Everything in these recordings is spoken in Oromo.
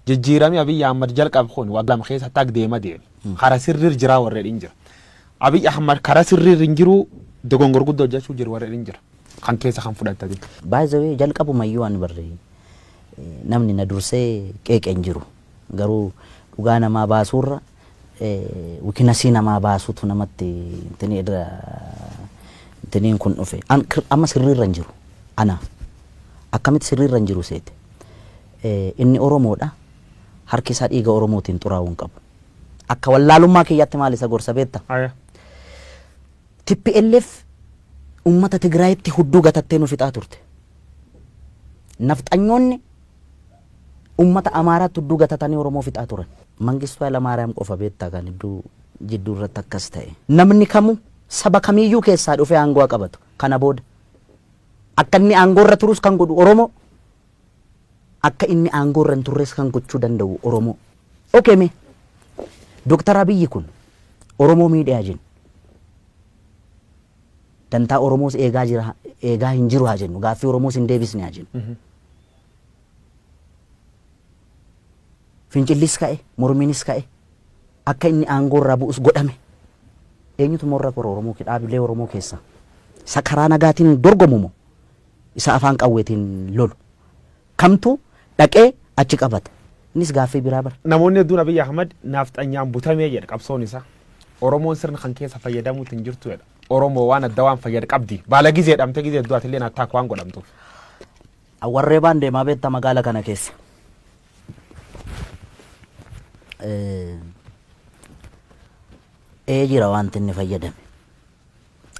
Jijjiirami Abiy Ahmad jalqabe kun waggaa lama keessa hatta deema deeme kara sirriir jiraa warri jedhin jira. Abiy Ahmad kara sirriir hin jiruu dogongor guddo hojjachuu jiru warri jedhin jira. Kan keessa kan fudhattati. By the way jalqabumayyuu ani barri namni na dursee qeeqe hin jiru. Garuu dhugaa namaa baasuurra wikinasii namaa baasutu namatti intini irra intiniin kun dhufe. Amma sirriirra hin jiru anaaf. Akkamitti sirriirra hin jiru seete? Inni Oromoodha. Harki isaa dhiiga Oromootiin xuraa'uu hin qabu. Akka wallaalummaa kiyyaatti maal isa gorsa beekta? Haya. Tplf ummata Tigraayitti hudduu gatattee nu fixaa turte. Nafxanyoonni ummata Amaaraatti hudduu gatatanii Oromoo fixaa turan. Mangistuu Haylamaariyaam qofa beektaa kan hedduu jidduu irratti akkas ta'e. Namni kamuu saba kamiiyyuu keessaa dhufee aangoo haa qabatu. Kana booda akka inni aangoo irra turus kan godhu Oromoo. Akka inni aangoo irra hin turres kan gochuu danda'u Oromoo. Ok mee Dr. Abiyyi kun Oromoo miidhe haa jennu. Dantaa Oromoos eegaa jira eegaa hin jiru haa jennu. Gaaffii Oromoos hin deebisne haa jennu. Fincillis ka'e, mormiinis ka'e, akka inni aangoo irraa bu'us godhame. Eenyutu immoo irra kora Oromoo kee dhaabilee Oromoo keessaa? Isa karaa nagaatiin dorgomu moo isa afaan qawweetiin lolu kamtu dhaqee achi qabata? Innis gaaffii biraa bar. Namoonni hedduun Abiy Ahmad naafxanyaan butame jedha qabsoon isaa. Oromoon sirna kan keessa fayyadamuutti hin jirtu jedha. Oromoo waan adda waan fayyad qabdi. Baala gizee dhamte gizee hedduu atilleen attaak waan godhamtuuf. Awwarree baan deemaa beekta magaala kana keessa. Ee jira wanti inni fayyadame.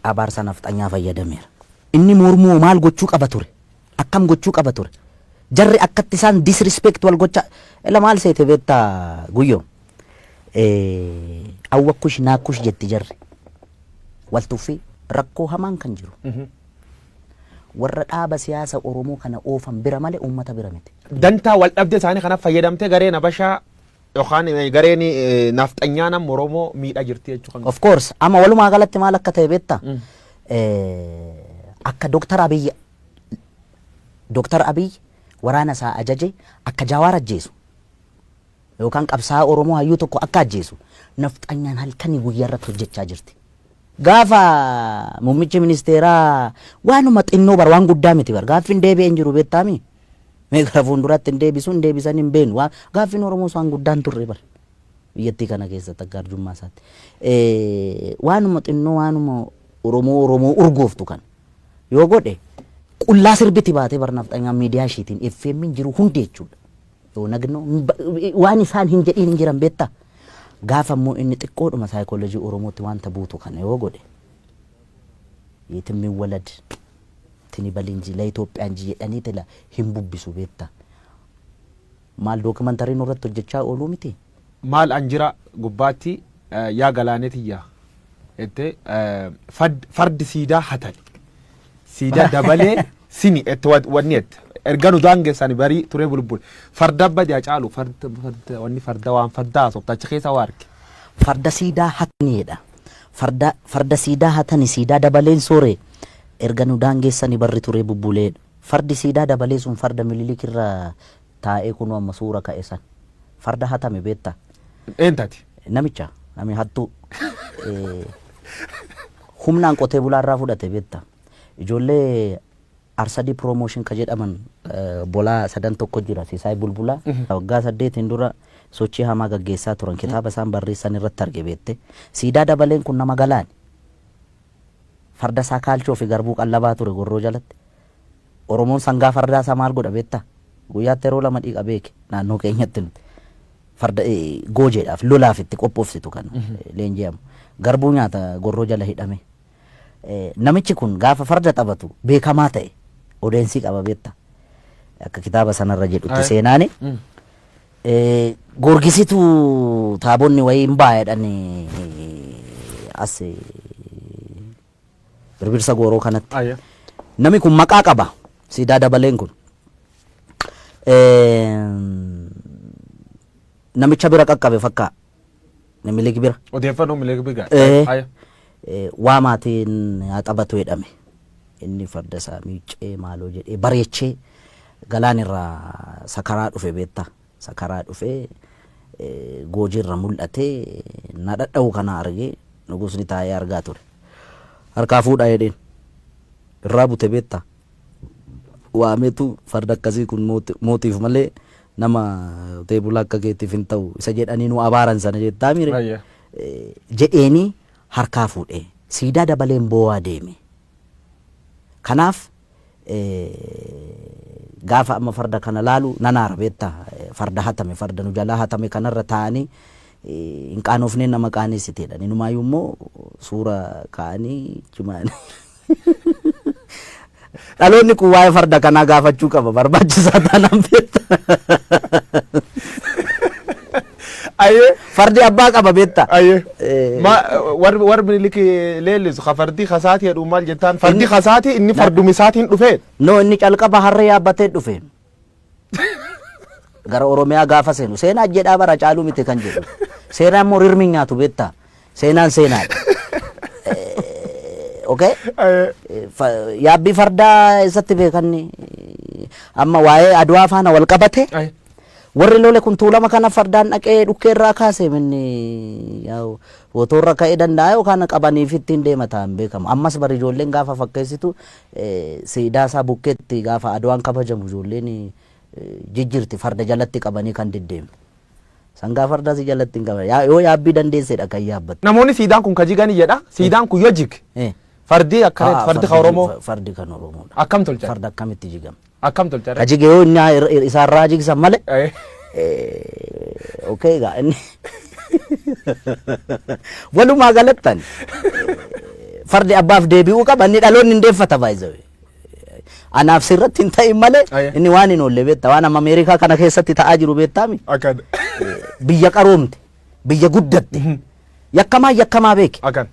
Abaarsa nafxanyaa fayyadameera. Inni mormuu hoo maal gochuu qaba ture? Akkam gochuu qaba ture? Jarri akkatti isaan disrespect wal gochaa ela maal seete beetta guyyoo? Eh, Awwakkush naakkush jetti jarri. Wal tuffii rakkoo hamaan kan jiru. Warra dhaaba siyaasa Oromoo kana oofan bira malee uummata bira miti. Dantaa wal dhabde isaanii kanaaf fayyadamtee gareen Habashaa Yookaan eh, gareen eh, naafxanyaa nama Oromoo miidhaa jirti jechuu kan Of course amma walumaa galatti maal akka ta'e beekta akka Dooktar Abiy Dooktar Abiy waraana isaa ajaje akka Jaawaar ajjeesu yookaan qabsaa Oromoo hayyuu tokko akka ajjeesu nafxanyaan halkanii guyyaa irratti hojjechaa jirti. Gaafa muummichi ministeeraa waanuma xinnoo bar waan guddaa miti bar gaaffiin deebi'ee hin jiru beektaami. Mee gara fuulduraatti hin deebisu hin deebisan hin beeknu. Waan gaaffiin Oromoos waan guddaan turre bar. Biyyattii kana keessatti akka arjummaa isaatti. Eh, Waanuma xinnoo waanuma Oromoo Oromoo urgooftu kan yoo godhe qullaa sirbiti baatee bar nafxanyaa miidiyaa ishiitiin FM'n jiru hundi jechuudha. Yoo nagnoo hin ba- waan isaan hin jedhiin hin jiran beektaa. Gaafa immoo inni xiqqoodhuma saayikoolojii Oromootti wanta buutu kana yoo godhe yeetimmiin walad tini balinji la Ethiopian ji jedhanii tila hin bubbisu beetta maal documentary nurratti hojjachaa ooluu miti? Maal an jira gubbaatti yaa galaanee tiyya jette fardi siidaa hatani siidaa dabalee sini jette wanni jette erga nu daangessani barii turee bulbule farda badi hacaalu farda wanni farda waan farda haasofta achi keessa waa arge. Farda siidaa hatani jedha Farda farda siidaa hatani siidaa dabaleen soore erga nu daangeessani barri turee bubbulee fardi siidaa dabalee sun farda mililik irra taa'ee kunoo amma suura ka'e san farda hatame beetta Eentati. namicha nami hattuu eh, humnaan qotee bulaa irraa fudhate beetta ijoollee Arsadii Promotion ka jedhaman bolaa sadan tokko jira Sisaay Bulbulaa. Waggaa saddeetiin dura sochii hamaa gaggeessaa turan. Kitaaba isaan barreessan irratti arge beettee. Siidaa Dabaleen kun nama Galaani. Farda isaa kaalchoo fi garbuu qallabaa ture Gorroo jalatti. Oromoon sangaa fardaa isaa maal godha beettaa? Guyyaatti yeroo lama dhiqa beeki naannoo keenyatti nuti. Farda goojeedhaaf lolaaf itti qophoofsitu kan leenji'amu. Garbuu nyaata Gorroo jala hidhamee. Namichi kun gaafa farda taphatu beekamaa ta'e odeensii qaba beekta. Akka kitaaba sanarra jedhutti Aye. seenaani. Mm. Eh, Goorgisitu taabonni wayii hin baay'eedhaan as eh, birbirsa gooroo kanatti. Ayya. Nami kun maqaa qaba. Siidaa dabaleen kun. Eh, Namicha bira qaqqabe fakkaa. Minilik bira. Odeeffannoo Minilik bira. Eh. Haya. Eh, waa maatiin haa taphatu jedhame inni farda isaa miiccee maaloo jedhee bareechee galaan irraa sakaraa dhufe beektaa sakaraa dhufe eh, goojii irra mul'atee na dhadha'u kana argee nugusni taa'ee argaa ture harkaa fuudhaa jedheen irraa bute beektaa waametu farda akkasii kun mootiif malee nama qotee bulaa akka keetiif hin ta'u isa jedhanii nu abaaran sana jettaa mire Ayya. jedheeni harkaa fuudhee siidaa dabaleen boo'aa deeme. Kanaaf eh, gaafa amma farda kana laalu nan aara beetta Eh, farda hatame farda nu jalaa hatame kanarra taa'anii eh, hin qaanofneen nama qaaneessiteedha. Inumaayyuu immoo suura kaa'anii jimaanii. Dhaloonni kun waa'ee farda kanaa gaafachuu qaba barbaachisaa taanaan beekta. Ayyee. Fardi abbaa qaba beekta. Ayyee. Eh. Ma warri warri miniliki leellisu ka fardii kasaatii jedhu maal jettaan fardii Inni- kasaatii inni farduma isaatiin dhufee. No inni calqaba harree yaabbatee dhufe. gara Oromiyaa gaafa seenu seenaa jedhaa bara caaluu miti kan jedhu seenaan immoo rirmi nyaatu beektaa seenaan seenaadha. Eh, Okay? Eh, Eh, fa- Yaabbii fardaa eessatti beekanni amma waa'ee aduwaa faana wal qabate ay, warri lole kun tuulama kana fardaan dhaqee dhukkee irraa kaase minni yaa'u otoo irra ka'ee danda'a yookaan qabaniif ittiin deema ta'an beekamu ammas bari ijoolleen gaafa fakkeessitu Siidaa isaa bukkeetti gaafa Adwaan kabajamu ijoolleen jijjirti farda jalatti qabanii kan deddeemtu. Sangaa fardaa si jalatti hin qaban. Yaa- Yoo yaabbii dandeessedha kan yaabbattu. Namoonni siidaan kun ka jigani jedha. Siidaan kun yoo jige Eh. fardi akkana Haa, fardi ka fardi- Oromoo fa- Fardi kan Oromoodha. akkam tolchan? Farda akkamitti jigama? Akkam tolcha Ka jige yoo inni ir- ir- isaan raa jigsan male. Eh. Eh, Okay egaa inni. Walumaa galattan. eh, Fardi abbaaf deebi'uu qaba inni dhaloonni hin deeffata baay'ee. Anaaf sirratti hin ta'in malee Aye. inni waan hin oolle beektaa waan amma Ameerikaa kana keessatti ta'aa jiru beektaami. Akkan. biyya qaroomte biyya guddatte yakkamaa yakkamaa beeke Akkan.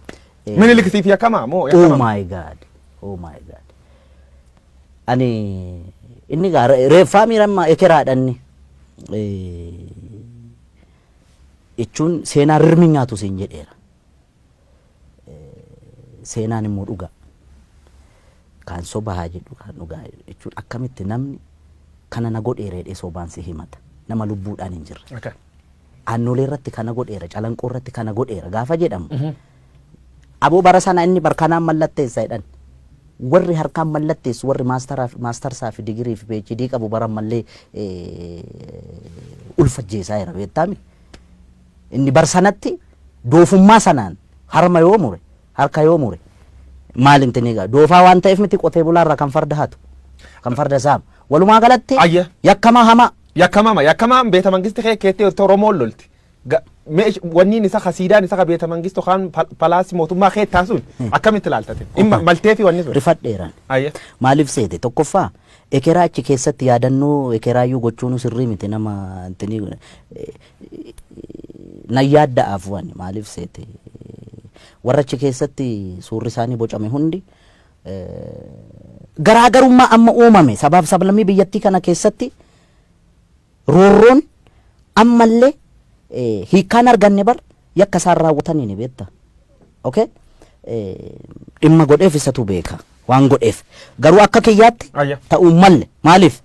Eh, Minilik siif yakkamaa moo Oh yakkamaa? my god. Oh my god. Ani inni gaa re- reeffaa miirammaa ekeraadhanni. Jechuun seenaa rirmi nyaatu siin jedheera. Eh, Seenaan immoo dhugaa. Kan soba haa jedhu kan dhugaa jechuun akkamitti namni kana na godheera jedhee sobaan si himata. Nama lubbuudhaan hin jirre. Okay. Aannoleerratti kana godheera, Calanqoorratti kana godheera gaafa jedhamu abo bara sana inni bar kanaan mallatteessa jedhan warri harkaan mallatteessu warri maastaraaf- maastarsaa fi digirii fi PhD qabu bara ammallee eh, ulfa ajjeesaa jira beektaami. Inni bar sanatti doofummaa sanaan harma yoo mure Harka yoo mure maal inti ni ga'a? Doofaa waan ta'eef miti qotee bulaa irraa kan farda hatu, kan farda saamu. Walumaa galatti Ayya. yakkamaa hamaa. Yakkamama yakkamaan beeta mangisti kee keetti yoo ta'u Oromoon lolti. Ga- meesh- Wanniin isa kasiidaan isa ka beeta mangistu kaan pal- palaasi mootummaa kee taasuun akkamitti ilaaltate? Dhimma maltee fi wanni sun. Rifadheeraan. Ayya. Maaliif seete? Tokkoffaa ekeraa achi keessatti yaadannoo ekeraayyuu gochuun sirrii miti nama intinii nan yaadda'a afuwani maaliif seete warra achi keessatti suurri isaanii bocame hundi garaagarummaa amma uumame sabaaf sablammii biyyattii kana keessatti roorroon ammallee hiikkaan arganne bar yakka isaan raawwataniin beekta. Okay? Dhimma godheef isatu beeka waan godheef garuu akka kiyyaatti ta'uu malle maaliif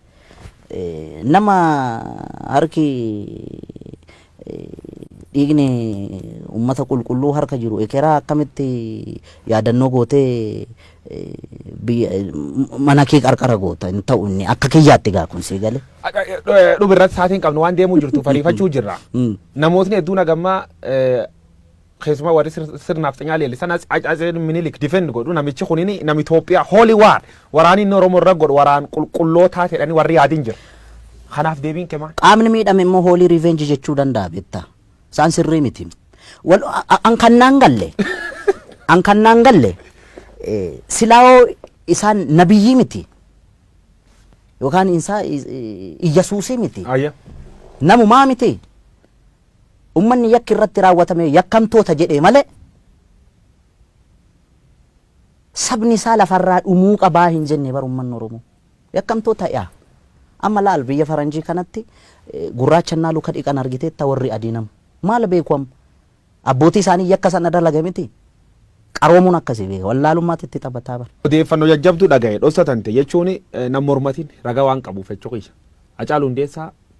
Nama harki dhiigni ummata qulqulluu harka jiru ekeraa akkamitti yaadannoo gootee mana kee qarqara goota hin ta'u inni akka kiyyaatti gaa kun sii gale. Dhuma irratti saatiin qabnu waan deemuu jirtu fariifachuu jirra. Namootni hedduun hagammaa keessumaa warri sir- sirna nafxanyaa leellisan as- as- as- minilik defend godhu namichi kunini nama Itoophiyaa holy war waraanni inni Oromoo irra godhu waraan qulqullootaa jedhanii warri yaadin jira. Kanaaf deebiin kee maal? qaamni miidhame immoo hoolii revenge jechuu danda'a beektaa isaan sirrii miti Wal- a- a- an kannaan galle an kannaan galle eh, silaawoo isaan nabiyyii miti yookaan isaa iyyasuusii miti Ayya. namumaa miti Ummanni yakki irratti raawwatame yakkamtoota jedhee malee sabni isaa lafa irraa dhumuu qabaa hin jenne bar ummanni Oromoo. Yakkamtoota yaa amma laal biyya faranjii kanatti gurraacha innaa luka dhiqan argiteetta warri adiin amma. Maal beeku amma? Abbootii isaanii yakka sana dalage miti? Qaroomuun akkasii beeka wallaalummaatti itti taphataa bar. Odeeffanno jajjabdu dhagahe dhossa tante jechuun nan mormatin raga waan qabuuf echo kiyya. Hacaalu Hundeessaa